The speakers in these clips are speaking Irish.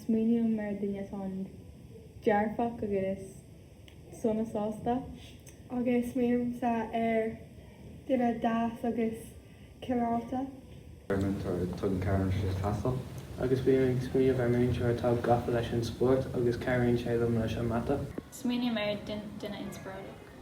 Smaoiním ar dhuine atá an-dearfach agus sona sásta. Agus smaoinímse ar dhuine deas agus cineálta. Agus bím ag smaoineamh ar múinteoir atá gafa leis an spórt agus cabhraíonn sé liom leis an mata. Smaoiním ar duine inspioráideach.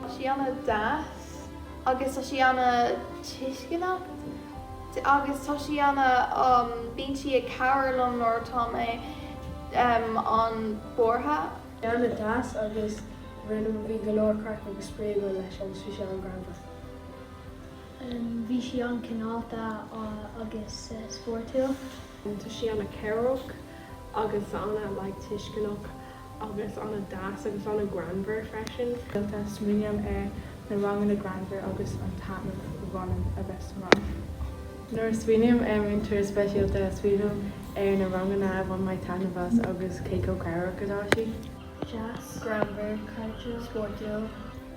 Tá sí ana deas agus tá sí ana tuisceanach agus tá sí ana um bíonn sí ag cabhair liom nuair atá mé um an buartha. Bhí ana deas agus rinne bhí go leor craic agus spraoi againn leis agus bhí sé an greannmhar. Um bhí sí an cineálta agus spórtúil. Tá sí ana cabhrach agus ana like tuisceanach agus ana deas agus ana greannmhar freisin. Rialta, smaoiním ar na ranganna greannmhar agus an taitneamh a bhainim a bheith sa rang. Nuair a smaoiním ar múinteoir speisialta, smaoiním ar na ranganna a bhain mé taitneamh as agus cé chomh cabhrach atá sí. Deas, greannmhar, cairdiúil, spórtúil.